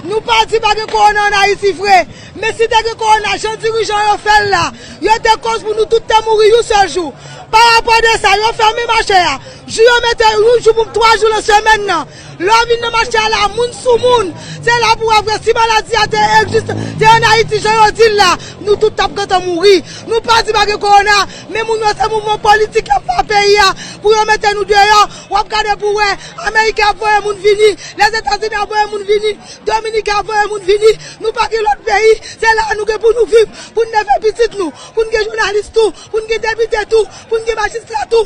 Nou pa di pa gen korona an Ayiti vre, men si te gen korona jan dirijan yo fè l la, yo te koz pou nou tout te mouri yon sèl jou. Parapò de sa, yo fèmen mache a, jou yo mete yon jou poum twa jou lan semèn nan. Lè w vin nan mache a la, moun sou moun, se la pou w wè vre si maladi a te egziste, te an Ayiti jan yo di l la, nou tout t ap gentan mouri. Nou pa di pa gen kowona, men moun yo se mouvman politik y ap fè an peyi a pou yo mete nou deyò. W ap gade pou w wè, Ameriken ap voye moun vini, Lèzetazini ap voye moun vini, Dominiken ap voye moun vini, nou pa gen lòt peyi, se la a nou gen pou nou viv, pou n leve pitit nou, pou n gen jounalis tou, pou n gen depite tou, pou n gen majistra tou.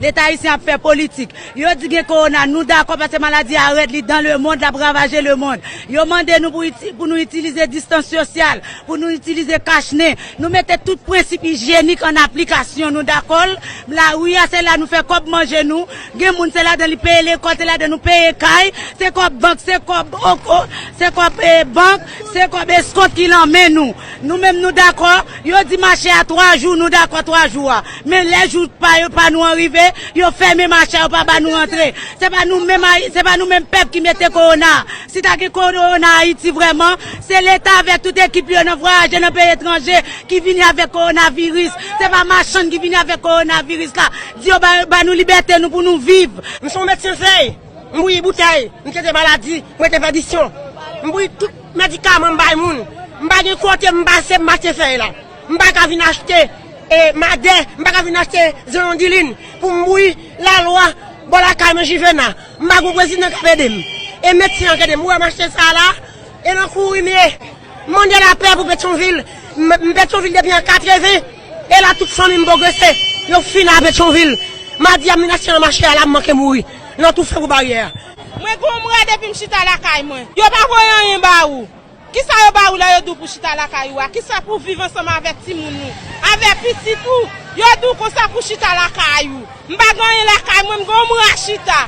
Leta ayisyen ap fè politik. Yo di gen kowona, nou dakò paske maladi a rèd, li dan le mond, l ap ravaje le mond. Yo mande nou pou nou itilize distans sosyal, pou nou itilize kach nen. Nou mete tout prensip ijyenik an aplikasyon, nou dakò l. Lari a, se la nou fè kòb manje nou. Gen moun se ladan li peye lekòl, se ladan nou peye kay. Se kòb bank, se kòb, se kòb bank, se kòb eskont ki lan men nou. Nou menm nou dakò, yo di mache a 3 jou nou dakò 3 jou a. Men lè jou pa nou an rive, yo fèmen mache a yo pa ba nou rantre. Se pa nou menm se pa nou menm pèp ki mete kowona a. Si ta gen kowona Ayiti vrèman, se leta avèk tout ekip li yo nan vwayaje nan peyi etranje ki vini avèk kowonaviris. Se pa machann ki vini avèk kowonaviris la. Di yo ba nou libète nou pou nou viv. M se yon medsen fèy, m bouyi boutèy, m trete maladi, m rete pèdisyon, m bouyi tout. Medikaman m bay moun. M pa gen kote m pase m mache fèy la. M pa ka vin achte madè, m pa ka vin achte zeyondilin pou m bouyi lalwa bò lakay mwen Jivena. M pa gen yon prezidan k ap ede m. E medsen an k ede m. Ou wè m achte sa la a? E nan kouri m ye. M mande lapè pou Petyonvil. M Petyonvil depi an 80. E la tout fanmi m pwogrese. Yo fini a Petyonvil. Madi a m vin achte nan mache a la m manke mouri nan toufe pou baryè a. Mwen gonmra depim chita lakay mwen. Yo pa voye anyen ba ou. Kisa yo ba ou lè yo di ou pou chita lakay ou a? Kisa pou viv ansanm avèk timoun ou? Avè pitit ou? Yo di ou konsa pou chita lakay ou. M pa gen anyen lakay mwen, m gonmra chita.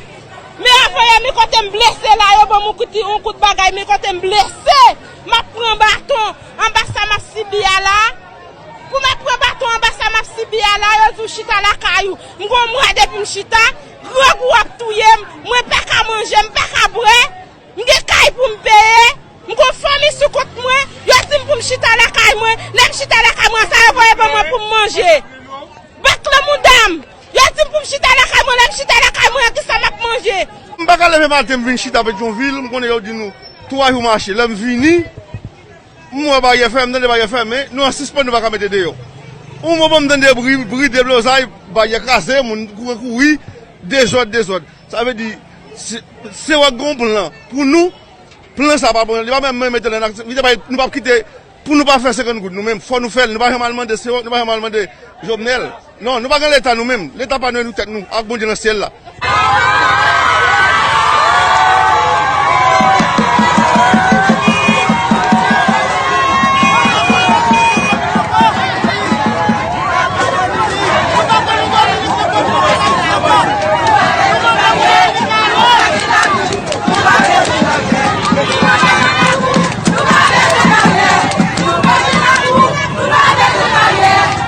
Men afeye men kote m blese la, yo banm yon kout bagay men kote m blese. M ap pran baton anba sa m ap sibi a la. Pou m ap pran baton anba sa m ap sibi a la, yo di ou chita lakay ou. M gonmra depim chita. Dròg ou ap touye m, mwen pa ka manje, m pa ka bwè, m gen kay pou m peye, m gon fanmi sou kont mwen, yo di m pou m chita lakay mwen, lè m chita lakay mwen sa yo voye ban mwen pou m manje. Bak lan mouda m, yo di m pou m chita lakay mwen, lè m chita lakay mwen an kisa m ap manje. M pa ka leve maten m vin chita Petyonvil, m konnen yo di nou 3 jou mache, lè m vini. M wè baryè fèmen, m tande baryè fèmen, nou an sispann nou pa ka mete deyò. Yon moman m tande bri, bri deblozay, baryè kraze, moun kouri kouri, dezòd dezòd. Sa vle di, se wè gen yon plan pou nou, plan sa pa bon, li pa menm menm mete l an aktivite paske nou pap kite pou nou pa fè 50 goud nou menm, fò nou fè l, nou pa janm al mande Sewòk, nou pa janm al mande Jovnèl. Non, nou pa gen leta nou menm. Leta pa nou e nou tèt nou ak Bondye nan syèl la.